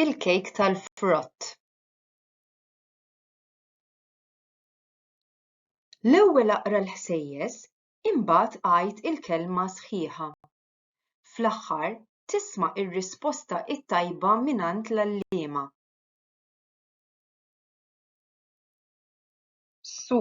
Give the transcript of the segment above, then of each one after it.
il-kejk tal-frott. L-ewwel aqra l-ħsejjes, imbagħad għid il-kelma sħiħa. Fl-aħħar, tisma' r-risposta t-tajba mingħand l-għalliema. Su.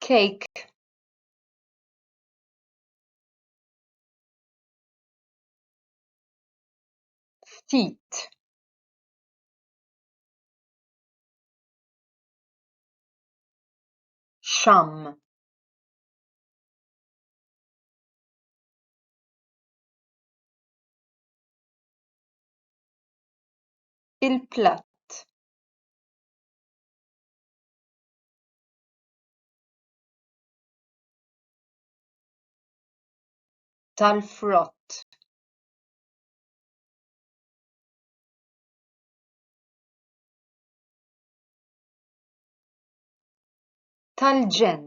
cake ftit sham il-platt tal-frott tal-ġenn